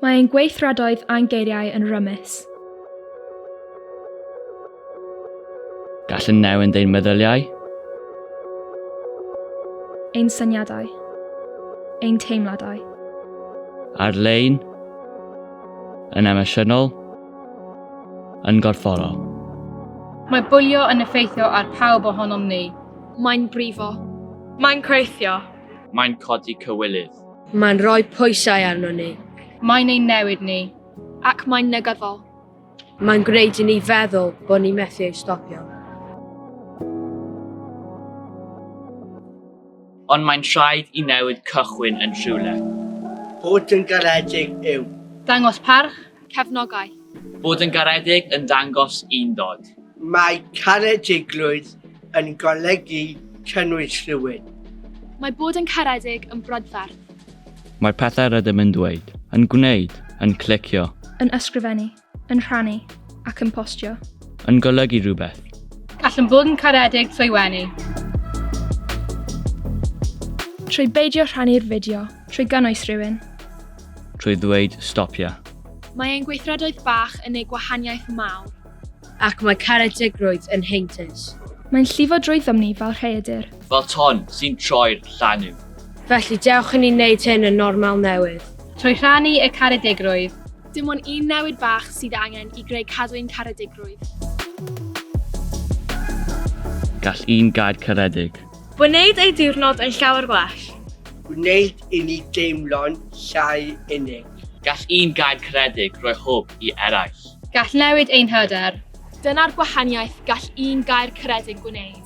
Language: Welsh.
Mae ein gweithredoedd a'n geiriau yn rymus. Gall yn newyn ein meddyliau. Ein syniadau. Ein teimladau. Ar-lein. Yn emosiynol. Yn gorfforol. Mae bwlio yn effeithio ar pawb ohonom ni. Mae'n brifo. Mae'n creithio. Mae'n codi cywilydd. Mae'n rhoi pwysau arno ni. Mae'n ein newid ni. Ac mae'n negyddol. Mae'n gwneud i ni feddwl bod ni methu ei stopio. Ond mae'n rhaid i newid cychwyn yn rhywle. Bod yn garedig yw. Dangos parch. Cefnogaeth. Bod yn garedig yn dangos undod. Mae caredigrwydd yn golygu cynnwys rhywun. Mae bod yn caredig yn brydferth. Mae pethau rydym yn dweud, yn gwneud, yn clicio. Yn ysgrifennu, yn rhannu ac yn postio. Yn golygu rhywbeth. Gallwn fod yn caredig trwy wenu. Trwy beidio rhannu'r fideo. Trwy gynnwys rhywun. trwy ddweud stopia. Mae ein gweithredoedd bach yn neu gwahaniaeth mawr. Ac mae caredigrwydd yn heintus. Mae'n llifo drwyddom ni fel rhaeadur. Fel ton sy'n troi'r llanw. Felly dewch i ni wneud hyn yn normal newydd. Trwy rhannu y caredigrwydd. Dim ond un newid bach sydd angen i greu cadw ein caredigrwydd. Gall un gair caredig. Gwneud eu diwrnod yn llawer gwell. Gwneud i ni deimlo'n llai unig. Gall un gair caredig roi hwb i eraill. Gall newid ein hyder. Dyna'r gwahaniaeth gall un gair caredig gwneud.